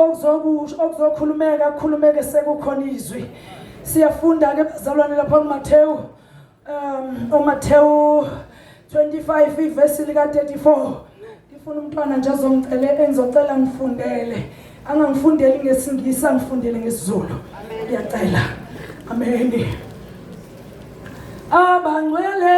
okuzokusho okuzokhulumeka kukhulumeke sekukhona izwi siyafunda ke bazalwane lapha kuMathewu um uMathewu 25 ivesi lika 34 ngifuna umntwana nje azongicela engizocela ngifundele angangifundeli ngesingisi angifundele ngesizulu ngiyacela amen abangcwele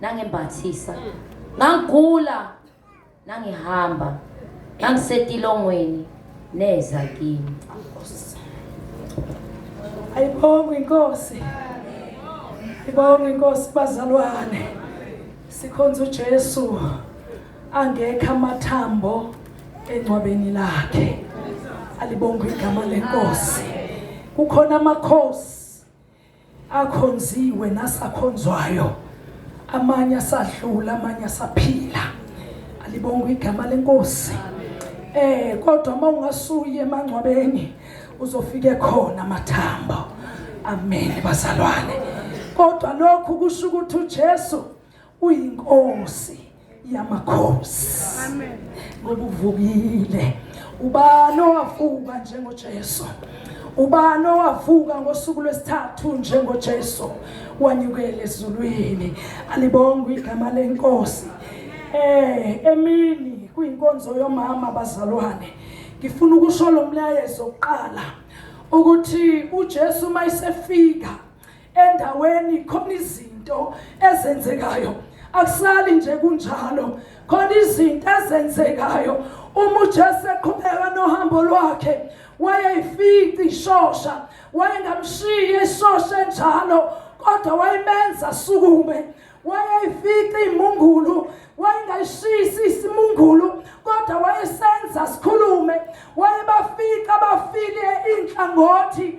nangimbathisa ngangigula nangihamba ngangisetilongweni neza kimi ayibonge inkosi ayibonge inkosi bazalwane sikhonza uJesu angekho amathambo engcwabeni lakhe alibonge igama lenkosi kukhona amakhosi akhonziwe nasakhonzwayo amanye asadlula amanye asaphila alibonga igama lenkosi eh kodwa uma ungasuye emangcwabeni uzofike khona amathambo amen bazalwane kodwa lokhu kusho ukuthi uJesu uyinkosi yamakhosi amen ngoba uvukile ubani owavuka njengoJesu ubani owavuka ngosuku lwesithathu njengoJesu wanyukele ezulwini alibonga igama lenkosi eh emini kuyinkonzo yomama bazalwane ngifuna ukusho lo mlayezo oqala ukuthi uJesu mayisefika endaweni khona izinto ezenzekayo akusali nje kunjalo khona izinto ezenzekayo uma uJesu eqhubeka nohambo lwakhe wayeyifici ishosha wayengamshiyi ishosha enjalo kodwa wayimenza sukume wayeyifica imungulu wayengayishisi isimungulu kodwa wayesenza sikhulume wayebafica abafile inhlangothi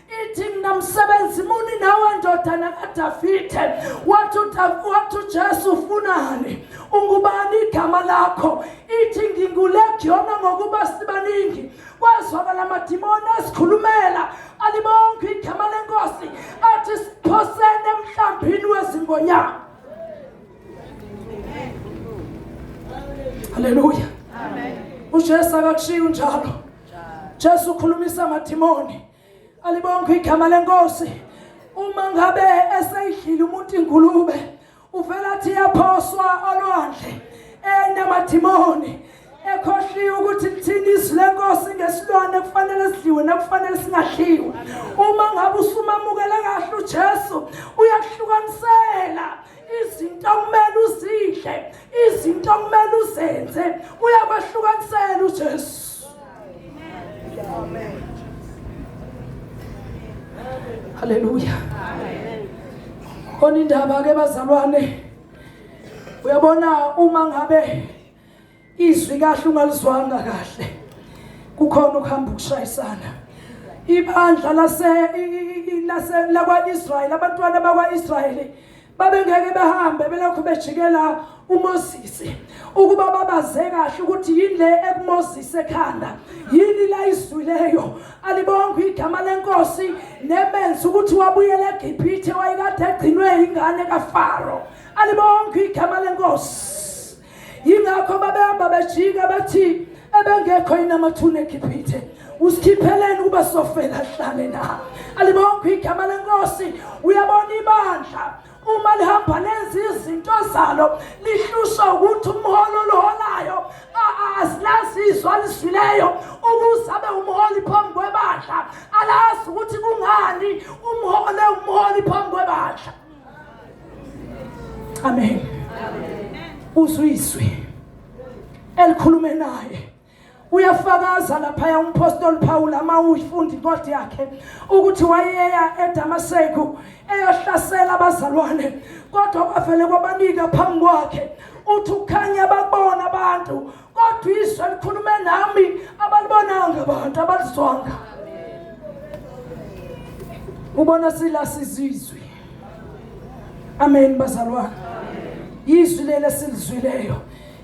ithi mina msebenzi muni nawe ndodana kadavide wathi wathi ujesu ufunani ungubani igama lakho ithi ngingulegiyona ngokuba sibaningi kwazwakala amadimoni esikhulumela alibonke igama lenkosi athi siphosene emhlambini wezingonyama haleluya ujesu akakushiyi unjalo Jesu ukhulumisa amadimoni alibonke igama lenkosi uma ngabe eseyidlile umuntu ingulube uvela athi yaphoswa olwandle enamadimoni ekhohliwe ukuthi lithini izwi lenkosi ngesilwane kufanele sidliwe nakufanele singadliwe uma ngabe usumamukele kahle ujesu uyakuhlukanisela izinto okumele uzidle izinto okumele uzenze uyakwahlukanisela uJesu amen haleluya amen khona indaba ke bazalwane uyabona uma ngabe Izwi kahle ungalizwanga kahle. Kukhona ukuhamba ukushayisana. Ibandla lase lase lakwaIsrael abantwana bakwaIsrael babengeke behambe belokhu bejikela uMoses ukuba babaze kahle ukuthi yini le ekuMoses ekhanda yini la izwileyo alibonga igama lenkosi nemenza ukuthi wabuyela eGibhithe wayekade egcinwe ingane kaFaro alibonga igama lenkosi yingakho babehamba bejika bathi ebengekho yini amathuna egiphithe usikhipheleni ukuba sofela hlale na alibonke igama lenkosi uyabona ibandla uma lihamba lenza izinto zalo lihlushwa ukuthi umholo oluholayo asilazizwa aliswileyo ukuze abe umholi phambi kwebandla alazi ukuthi kungani umhole umholi phambi kwebandla amen uzwiswe elikhulume naye uyafakaza laphaya umpostoli Paul ama uyifundi incwadi yakhe ukuthi wayeya eDamaseku eyohlasela abazalwane kodwa kwavele kwabanika phambi kwakhe uthi ukhanya babona abantu kodwa izwi elikhulume nami abalibonanga abantu abalizwanga ubona sila sizizwe amen bazalwane yizwi leli esilizwileyo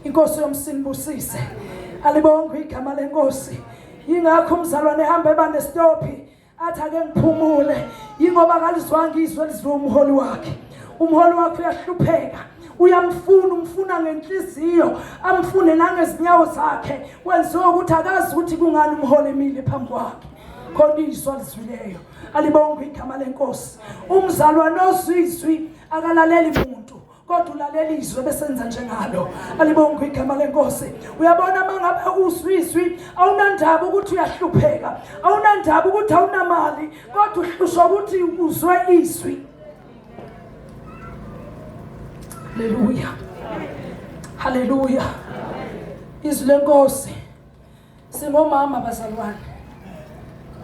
inkosi yomsinibusise alibongwe igama lenkosi yingakho umzalwane ehamba eba nesitophi athi ake ngiphumule yingoba akalizwanga izwi elizwe umholi wakhe umholi wakhe uyahlupheka uyamfuna umfuna ngenhliziyo amfune nangezinyawo zakhe kwenziwe ukuthi akazi ukuthi kungani umholi emile phambi kwakhe khona izwi alizwileyo alibongwe igama lenkosi umzalwane ozwizwi akalaleli muntu kodwa ulalela izwi ebesenza njengalo alibonga igama lenkosi uyabona uma ngabe uzwizwi awunandaba ukuthi uyahlupheka awunandaba ukuthi awunamali kodwa uhlushwa ukuthi uzwe izwi haleluya haleluya izwi lenkosi Singomama bazalwane.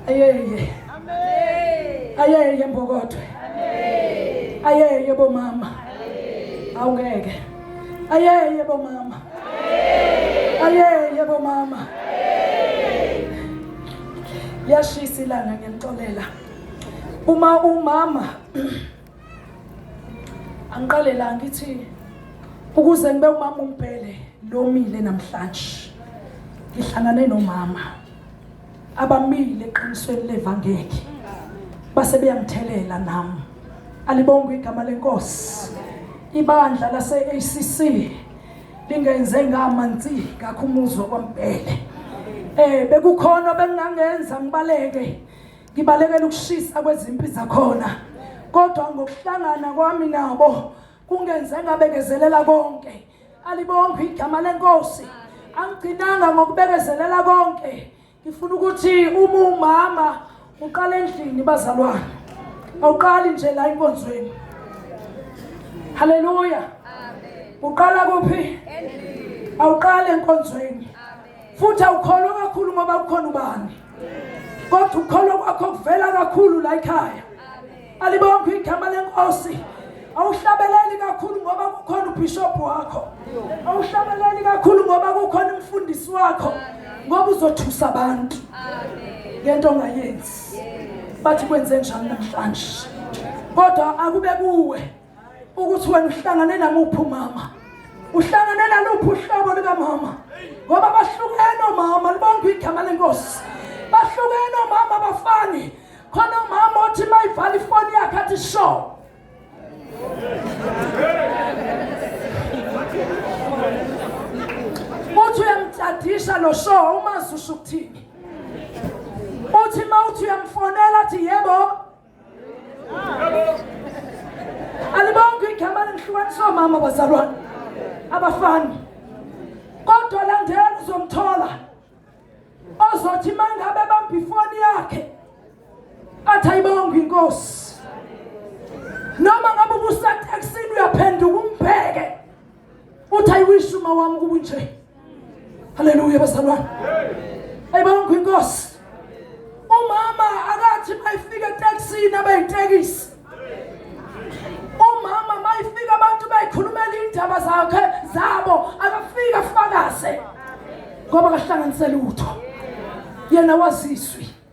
Ayeye. Amen. Ayeye mbokodo. Amen. Ayeye bomama. Amen. Awungeke. Ayeye bomama. Amen. Ayeye bomama. Amen. Yashisa ilanga ngiyanixolela. Uma umama angiqale la ngithi ukuze ngibe umama umbhele lomile namhlanje ngihlangane nomama abamile eqinisweni levangeli base beyangithelela nami alibongwe igama lenkosi ibandla lase-acc lingenze ngamanzi ngakho umuzwa kwampele um bekukhona bengingangenza ngibaleke ngibalekela ukushisa kwezimpi zakhona kodwa ngokuhlangana kwami nabo kungenze ngabekezelela konke alibonge igama lenkosi angigcinanga ngokubekezelela konke ngifuna ukuthi uma umama uqala endlini bazalwane awuqali nje la inkonzweni haleluya uqala kuphi awuqali enkonzweni futhi awukholwa kakhulu ngoba kukhona ubani kodwa ukukholwa kwakho kuvela kakhulu la ekhaya alibonke igama lenkosi awuhlabeleli kakhulu ngoba kukhona ubishop wakho awuhlabeleli kakhulu ngoba kukhona umfundisi wakho ngoba uzothusa abantu ngento ongayenzi bathi kwenze njani namhlanje kodwa akube kuwe ukuthi wena uhlangane namuphi umama uhlangane naluphi uhlobo lukamama ngoba bahlukene omama libonke igama lenkosi bahlukene omama abafani khona umama othi uma ivala ifoni yakhe athi sho uthi uyamtshadisha lo sho umazi usho ukuthini uthi uma uthi uyamfonela athi yebo alibonke igama lengihlukanisa omama bazalwane abafani kodwa landela uzomthola ozothi mangabe bamba ifoni yakhe athi ayibonge inkosi noma ngabe ubusateksini uyaphenduka umbheke uthi i wish uma wami kunje haleluya bazalwane hey bonke inkosi umama akathi mayifika taxini abayitekisi umama mayifika abantu bayikhulumela indaba zakhe zabo akafika fakaze ngoba kahlanganisele utho yena waziswi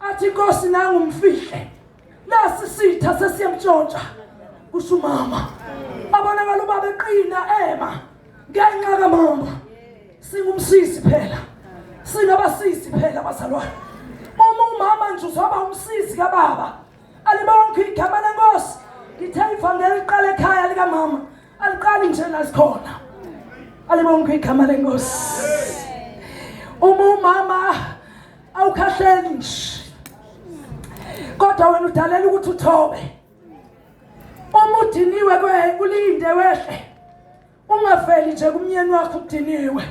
athi inkosi nangu umfihle nasi sitha sesiyamtshontsha kusho umama abonakala ubaba eqina ema ngenxa kamama singumsisi phela singabasisi phela bazalwane uma umama nje uzoba umsisi kababa alibonke igama lenkosi ngithe ivangeli iqala ekhaya likamama aliqali nje lasikhona alibonke igama lenkosi uma umama awukhahleli nje kodwa wena udalela ukuthi uthobe uma udiniwe kwe ulinde wehle ungafeli nje kumnyeni wakho udiniwe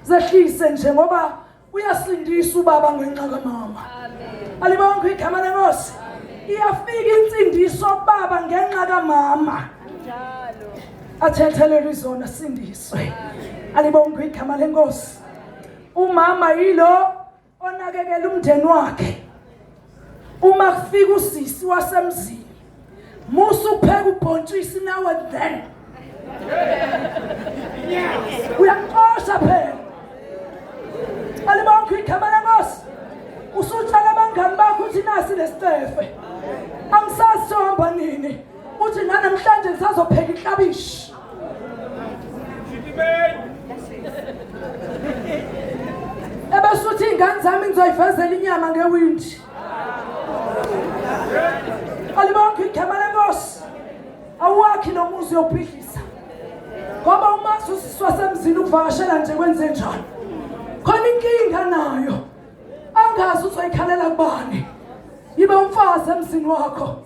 zehlise nje ngoba uyasindisa ubaba ngenxa kamama alibonke igama lenkosi iyafika insindiso baba ngenxa kamama athethelelwe izona sindiswe alibonke igama lenkosi umama yilo onakekela umndeni wakhe Uma kufika usisi wasemzini musa upheka ubhontshisi nawe then uyaxosha phela alibakho igama lenkosi usutshela abangani bakho ukuthi nasi lesicefe angisazi sohamba nini uthi nanamhlanje ngisazopheka iklabishi ebasuthi iy'ngane zami ngizoyivezela inyama ngewindi alibonke igama lenkosi awuwakhi lo muzi yophidlisa ngoba umazi usiswa semzini ukuvakashela nje kwenze njalo khona inkinga nayo angazi uzoyikhalela kubani yibe umfazi emzini wakho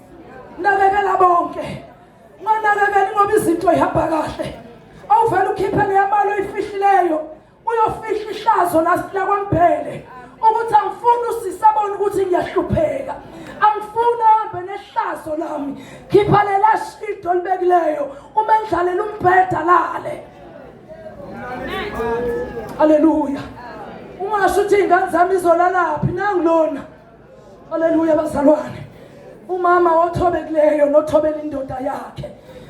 nakekela bonke Nganakekeli ngoba izinto ihamba kahle. Awuvele ukhiphe leyamali oyifihlileyo. Uyofihla ihlazo lakwambhele ukuthi angifuni usisabona ukuthi ngiyahlupheka. Angifuni ahambe nehlazo lami. Khipha lela shido libekileyo. Uma endlalela umbheda lale. Hallelujah. Ungasho ukuthi ingane zami izolalaphi nangilona. Haleluya bazalwane. Umama othobekileyo nothobela indoda yakhe.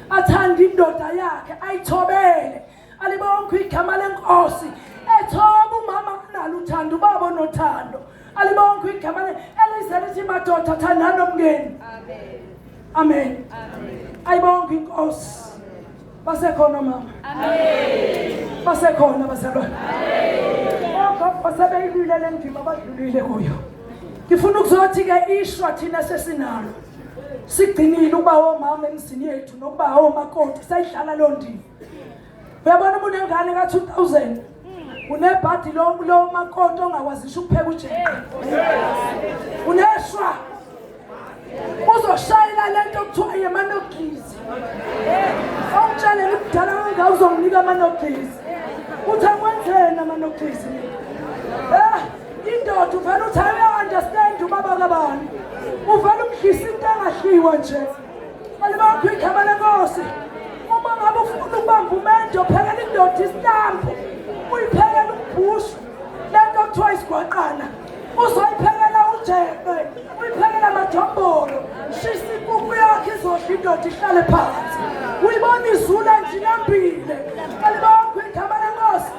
Athanda indoda yakhe ayithobele. Alibonke igama lenkosi. Ethoba umama kunalo uthando ubaba nothando. Alibonke igama elize lithi madoda thandana nomngeni. Amen. amen ayibonke inkosi basekhona omama basekhona bazalwane ogogo sebeyilwile le ndima abadlulile kuyo ngifuna ukuzothi-ke ishwa thina sesinalo sigcinile ukuba omama emzini yethu nokuba omakoti sayidlala loo ndima uyabona umuntu engane ka 2000 unebhadi lo lo makoto ongakwazisha ukupheka ujeke uneshwa uzoshayela lento kuthiwa yemanogizi ongitshalele kudala kangaka uzonginika amanogizi uthi akwenzeni amanogizi eh indoda uvele uthi ayi understand ubaba kabani uvele umdlisa into engahliwa nje Alibakho igama lenkosi. Uma ngabe ufuna ukubamba umendo phekela indoda isitambu. Uyiphekela umbhushu. Lento kuthiwa isigwaqana. Uzoyiphekela ujeqe. Uyiphekela amajombolo. Shisa inkukhu yakhe izodla indoda ihlale phansi. Uyibona izula nje inambile. Alibakho igama lenkosi.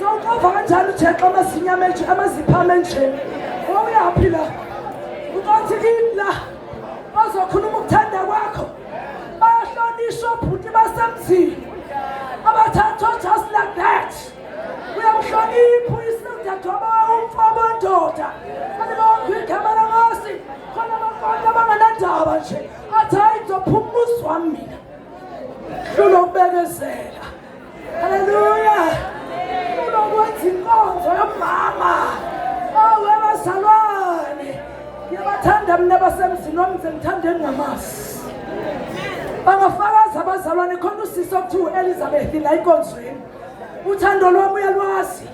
Uqova kanjalo uJexa amasinyama enje amaziphama enje. Wawuyaphi la? Uqothi kimi la. Bazokhuluma ukuthanda kwakho. Bayahlonishwa obhuti basemzini. Abathathwa just like that. Uyamhlonipha uyisindadwaba umfabo ndoda. Kanti bonke igama laMosi. Khona abafanele abanganandaba nje. Athi hayi ngizophuma umuzwa mina. Hlulwa ukubekezela. Haleluya. Unokwenza inkonzo yomama. Awu abazalwane. Ngiyabathanda mina basemzini wami ngithanda engamasi. Bangafakaza abazalwane khona usisi okuthiwa u-Elizabeth la enkonzweni. Uthando lwami uyalwazi.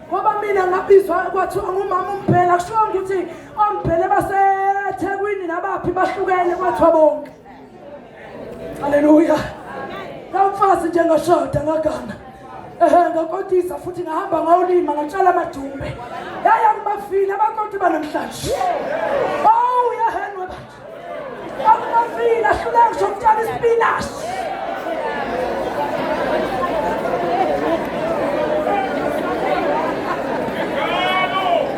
Ngoba mina ngabizwa kwathiwa ngumama umphela kusho ukuthi omphele baseThekwini nabaphi bahlukene kwathiwa bonke. Haleluya. Kamfazi nje ngashoda ngagana. Ehe ngakotisa futhi ngahamba ngawulima ngatshala amadumbe. Yaya ngibafile abakoti banamhlanje. Oh yahenwe bathi. Akubafile ahluleka ngisho ukutshala isipinashi.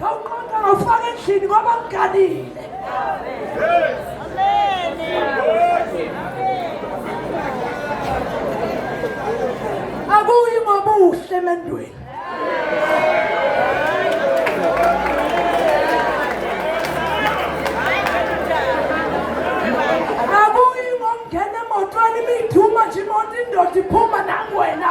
Khawuqonda ngawufaka endlini ngoba ngiganile. Akuyi ngobuhle emendweni. Akuyi ngokungena emotweni imiduma nje imoto indoda iphuma nangwena.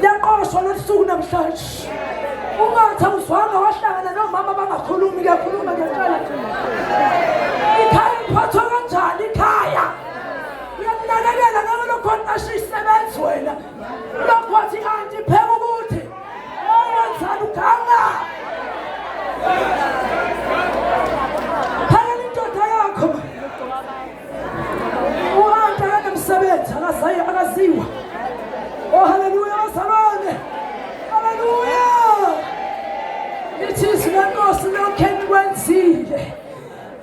liyaqoshwa losuku namhlanje ungathi awuzwanga wahlangana nomama bangakhulumi kuyakhuluma ngempela ikhaya liphathwa kanjani ikhaya uyalinakekela ngeke lokhona asho isebenzi wena lokho wathi anti pheka ukuthi wenzani uganga uhantu akanemsebenzi akazayo akaziwa oh haleluya bazalwane haleluya lithi izwi lenkosi lokhe nikwenzile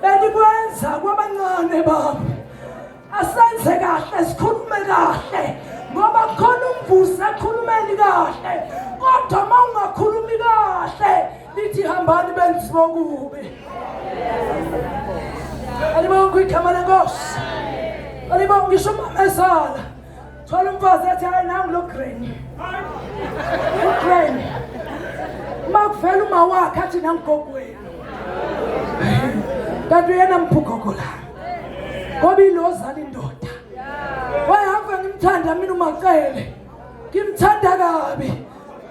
benikwenza kwabancane babo asenze kahle sikhulume kahle ngoba khona umvusi ekhulumeni kahle kodwa uma ungakhulumi kahle Nithi hambani benzi bokubi. Alibonga igama lenkosi. Alibonga ngisho umamezala. Thola umfazi athi hayi nangu lo grain. Lo grain. Makuvela uma wakhe athi nangogogo wenu. Kanti uyena mphugogo la. Ngoba ilozala indoda. Wayehamba ngimthanda mina umacele. ngimthanda kabi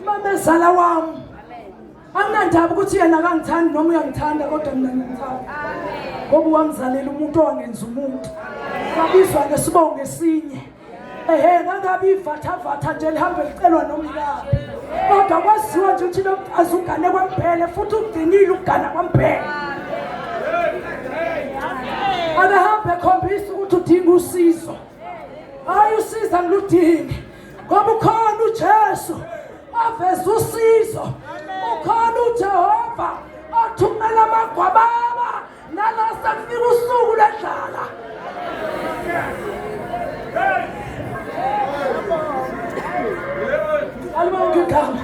mamezala wami anginandaba ukuthi yena akangithandi noma uyangithanda kodwa mina ngimthanda ngoba wangizalela umuntu owangenza umuntu kabizwa ke sibonge esinye ehe ngangabe ivathavatha nje lihambe licelwa nomkabo kodwa kwaziwa nje ukuthi lo mfazi ugane kwampele futhi ugcinile ukugana kwampele akahambe ekhombisa ukuthi udinga usizo hayi usiza ngiludingi ngoba ukhona uJesu oveza usizo ukhona uJehova othumela amagwababa nala sekufika usuku lendlala alibonke igama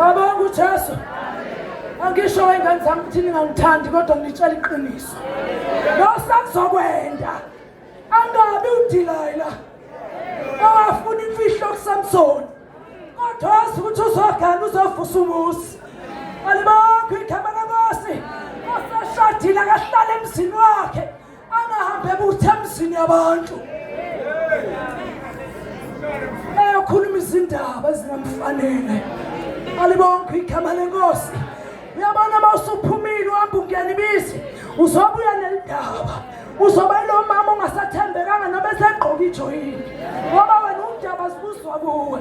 abonke uJesu angisho wengane zami ukuthi ningangithandi kodwa ngitshela iqiniso losakuzokwenda Angabi uDilayila owafuna imfihlo kuSamsoni kodwa wazi ukuthi uzogana uzovusa umuzi. Alibonke igama lenkosi. Osashadile akahlale emzini wakhe angahambe ebuthe emzini yabantu. Eyokhuluma izindaba ezingamfanele. Alibonke igama lenkosi. uyabona uma usuphumile uhamba ungena ibisi uzobuya nelindaba uzoba ilo mama ongasathembekanga noma esegqoka ijoyini ngoba wena undaba zibuzwa kuwe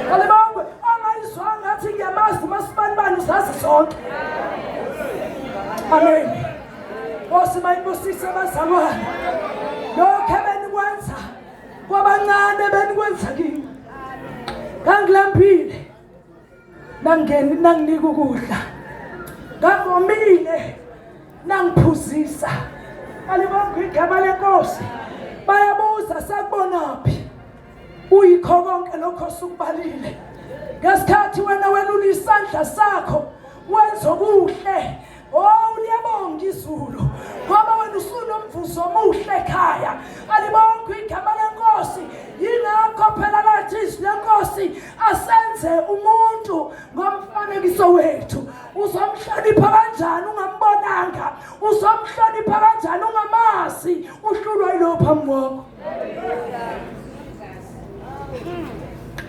kalibongwe ongayizwanga ngathi ngiyamazi umasibanibani uzazi zonke amen nkosi mayibusise abazalwane lokhu ebenikwenza kwabancane benikwenza kimi ngangilambile nangeni nanginika ukudla ngavomile nangiphuzisa alibonga igama lenkosi bayabuza sakubonaphi uyikho konke lokho sukubalile ngesikhathi wena welula isandla sakho wenza okuhle Oh liyabonga izulu ngoba wena usunomvuzo omuhle ekhaya alibonga igama lenkosi yingakho phela lathi izwi lenkosi asenze umuntu ngomfanekiso wethu uzomhlonipha kanjani ungambonanga uzomhlonipha kanjani ungamazi uhlulwa yilo phambi kwakho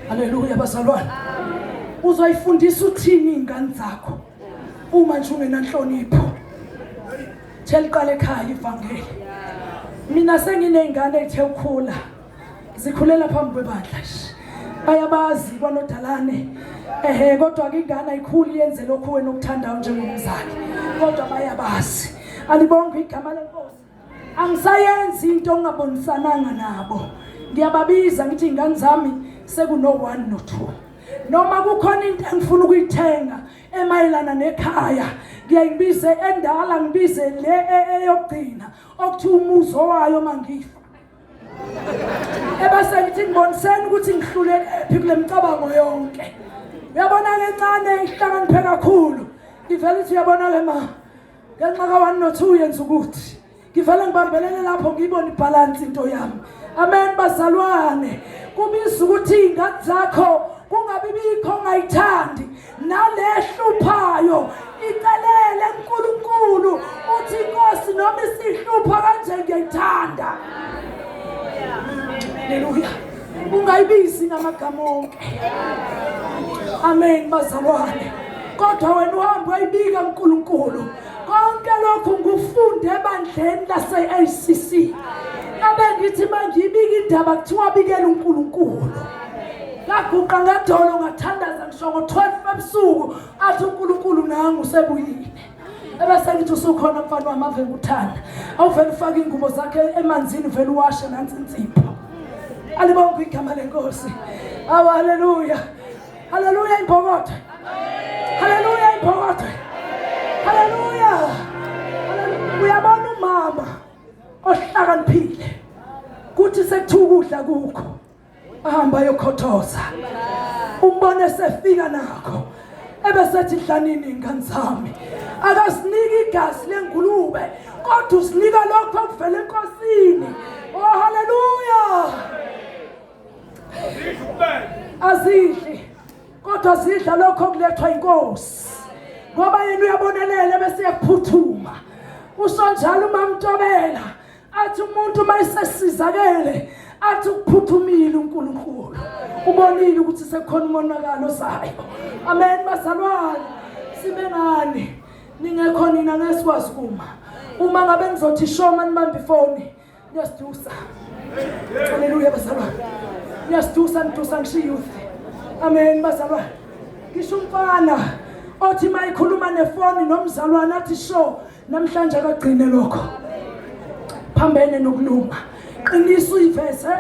haleluya bazalwane uzoyifundisa uthini ingane zakho uma nje ungenanhlonipho theliqala ekhaya ivangeli mina senginey'ngane ey'the ukhula zikhulela phambi kwebandla bayabazi kwanodalane ehe kodwa-ke ingane ayikhuli yenze lokhu wena okuthandayo njengomzali kodwa bayabazi alibonge igama lenkosi angisayenzi into ongabonisananga nabo ngiyababiza ngithi ingane zami sekuno 1 no 2 noma kukhona into engifuna ukuyithenga emayelana nekhaya ngiyayibize endala ngibize le e, e, eyokugcina okuthi umuzo wayo mangifa ebase ngithi ngiboniseni ukuthi ngihlulekephi kule micabango yonke uyabona ke ncane ihlakaniphe kakhulu ivele ukuthi uyabona ke ma ngenxa ka-one no-two yenza ukuthi ngivele ngibambelele lapho ngiyibone ibhalansi into yami amen bazalwane kubiza ukuthi iy'ngane zakho kungabi bikho ongayithandi nalehluphayo icelele kuNkulunkulu uthi inkosi noma isihlupha kanje ngiyayithanda haleluya ungayibizi ngamagama onke amen bazalwane kodwa wena uhambe wayibika uNkulunkulu konke lokhu ngufunde ebandleni lase-ACC abengithi mangiyibika indaba kuthiwa bikela uNkulunkulu ngaguqa ngedolo ngathandaza ngisho ngo-12 ebusuku athi uNkulunkulu nangu usebuyile ebese ngithi usukhona mfana wami avele uthanda awuvele ufake ingubo zakhe emanzini vele uwashe nansi insipho alibonke igama lenkosi awu haleluya haleluya imbokotho haleluya imbokotho haleluya uyabona umama ohlakaniphile kuthi sekuthiwa ukudla kukho ahamba yokhothoza umbone sefika nakho ebesethi dlanini ingane zami akasiniki igazi lengulube kodwa usinika lokho okuvela enkosini oh haleluya azidli kodwa zidla lokho okulethwa inkosi ngoba yena uyabonelela bese yaphuthuma usonjalo umamtobela athi umuntu uma esesizakele athi ukuphuthumile uNkulunkulu ubonile ukuthi sekukhona umonakalo ozayo amen bazalwane sibe ngani ningekho nina ngesikwazi kuma uma ngabe nizothi shoma nibambe ifoni niyasidusa haleluya bazalwane niyasidusa nidusa ngisho youth amen bazalwane ngisho umfana othi mayikhuluma nefoni nomzalwane athi sho namhlanje akagcine lokho phambene nokulunga qinisa uyiveze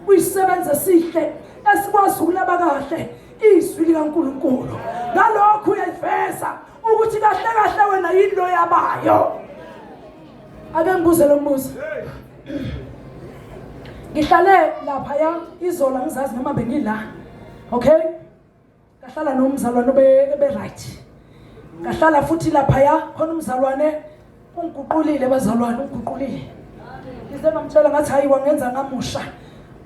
uyisebenze esihle esikwazi ukulaba kahle izwi likaNkuluNkulu ngalokho uyayiveza ukuthi kahle kahle wena yini lo yabayo ake ngibuze lo mbuzo ngihlale lapha ya izola ngizazi noma bengila okay ngahlala nomzalwane oberight ngahlala futhi laphaya khona umzalwane ungiguqulile bazalwane ungiguqulile ngize bamtshela ngathi hayi wangenza ngamusha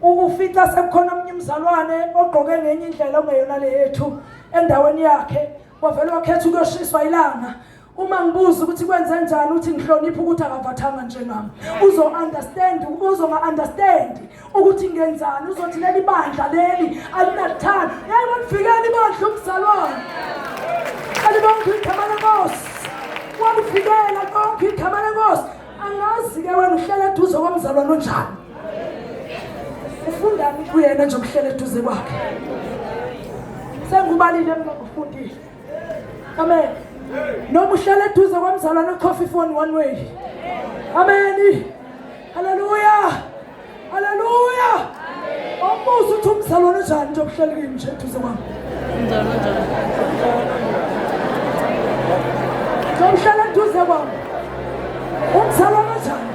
ukufica sekukhona omunye umzalwane ogqoke ngenye indlela ongeyona le yethu endaweni yakhe wavele wakhetha ukuyoshiswa ilanga uma ngibuza ukuthi kwenze njani uthi ngihloniphe ukuthi akavathanga njengami uzo understand uzo nga understand ukuthi ngenzani uzothi leli bandla leli alinathanda hey walifikeli bandla umzalwane alibonke igama lenkosi walifikela konke igama lenkosi angazi ke wena uhlele eduze komzalwane onjani ufundani kuyena nje ukuhlele eduze kwakhe sengubalile mina ngifundile amen noma uhlala eduze kwamzalwane okhofha ifoni one way amen haleluya haleluya awubuze ukuthi umzalwane unjani nje obuhleli kimi nje eduze kwami ngihlala eduze kwami umzalwane unjani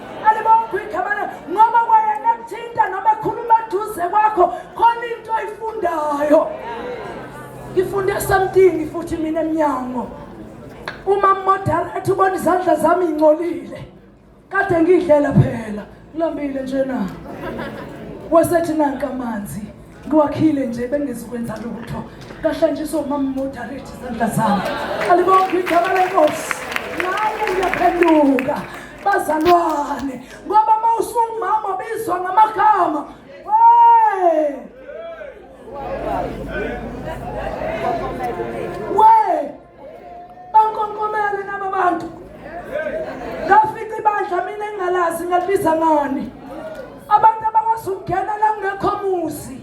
alibokho igama lakhe ngoba kwayena kuthinta noma ekhuluma eduze kwakho khona into oyifundayo ngifunde something futhi mina emnyango uma modala ethi ubona izandla zami ingcolile kade ngidlela phela ngilambile nje na wasethi nanka amanzi Kwakhile nje bengizokwenza lutho. Kahlanjiswa umama moderate izandla zami. Alibonke igama lenkosi. Naye ngiyaphenduka. Bazalwane ngoba uma usungumama bizwa ngamagama. Hey! We! bankonkomele naba bantu ngafica ibandla mina engingalazi ngalibiza ngani abantu abakwazi ukungena la kungekho muzi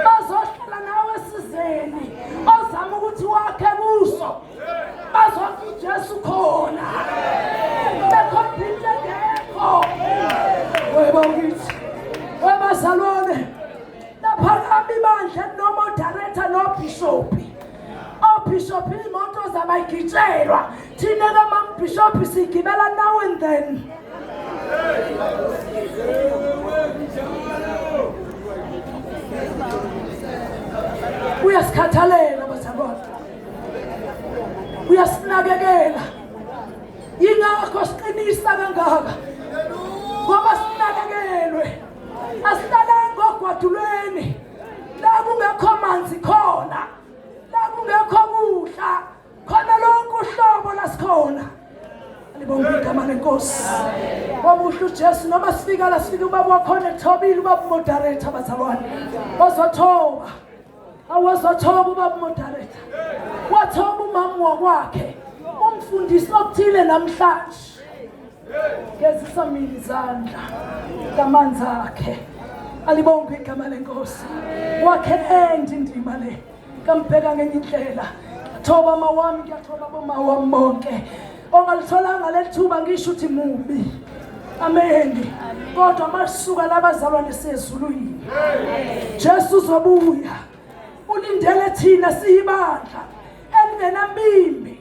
bazohlala nawe esizeni ozama ukuthi wakhe kuso bazothi ujesu khona bekhona into engekho weba ngithi webazalwane laphakama ibandla nomodaretha nobhishopi obishop imoto zabayigitshelwa thina ke mambishop sigibela now and then uyasikhathalela bazalwane uyasinakekela yingakho siqinisa kangaka ngoba sinakekelwe asilalanga ogwadulweni la kungekho manzi khona la kungekho kudla khona lonke uhlobo lasikhona libonga igama lenkosi wamuhle ujesu noma sifika la sifike ubaba wakhona ethobile ubaba umodaretha abazalwane ozothoba awozothoba ubaba umodaretha wathoba umama wakwakhe umfundisi okuthile namhlanje Gezisa mina izandla ngamanzi akhe. Alibonge igama lenkosi. Wakhe endi indima le. Kambheka ngenye indlela. Thoba mawami ngiyathoba bomawami bonke. Ongalitholanga lethuba ngisho ukuthi mubi. Amen. Kodwa masuka labazalwane sezulwini. Jesu uzobuya. Ulindele thina siyibandla elingenambimbi.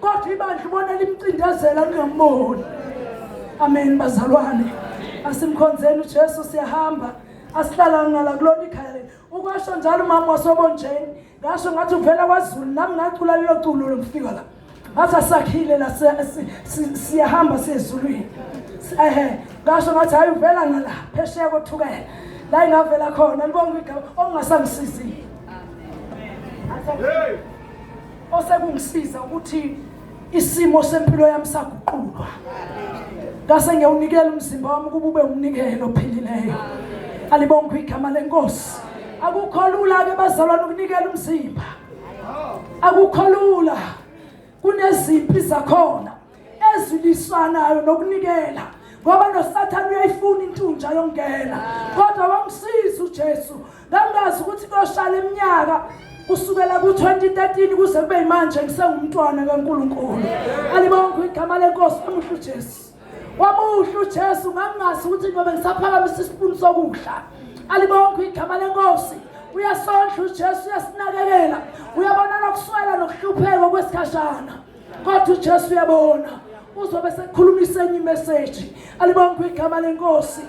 kodwa ibandla ubona limcindezela lingamboni amen bazalwane asimkhonzeni ujesu siyahamba asihlalanga la kulona ikhaya leli ukwasho njalo umama wasobonjeni ngasho ngathi uvela kwazulu nami ngacula lelo culo lomfika la ngathi asakhile la siyahamba siyezulwini ehe ngasho ngathi hhayi uvela ngala phesheya kothukela la ingavela khona libonga igama okungasangisizi Hey! osekungisiza ukuthi isimo sempilo yami saguqulwa ngase ngiyawunikela umzimba wami ukuba ube umnikelo ophilileyo alibongwe igama lenkosi akukho lula ke bazalwane ukunikela umzimba akukho lula kunezimpi zakhona ezilisanayo nokunikela ngoba nosathane uyayifuna intunja yongena kodwa wamsiza uJesu ngangazi ukuthi koshala iminyaka kusukela ku-2013 kuze kube yimanje ngisengumntwana kaNkulunkulu alibonke igama lenkosi amuhle uJesu wamuhle uJesu ngangingazi ukuthi ngobe ngisaphakamisa isipuni sokudla alibonke igama lenkosi uyasondla uJesu uyasinakekela uyabona nokuswela nokuhlupheka kwesikhashana kodwa uJesu uyabona uzobe sekukhulumisa enye imeseji alibonke igama lenkosi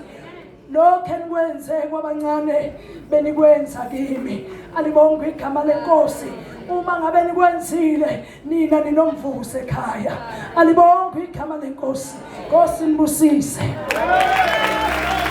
lokho enikwenze kwabancane benikwenza kimi alibonke igama lenkosi uma ngabe nikwenzile nina ninomvuzo ekhaya alibonke igama lenkosi nkosi nibusise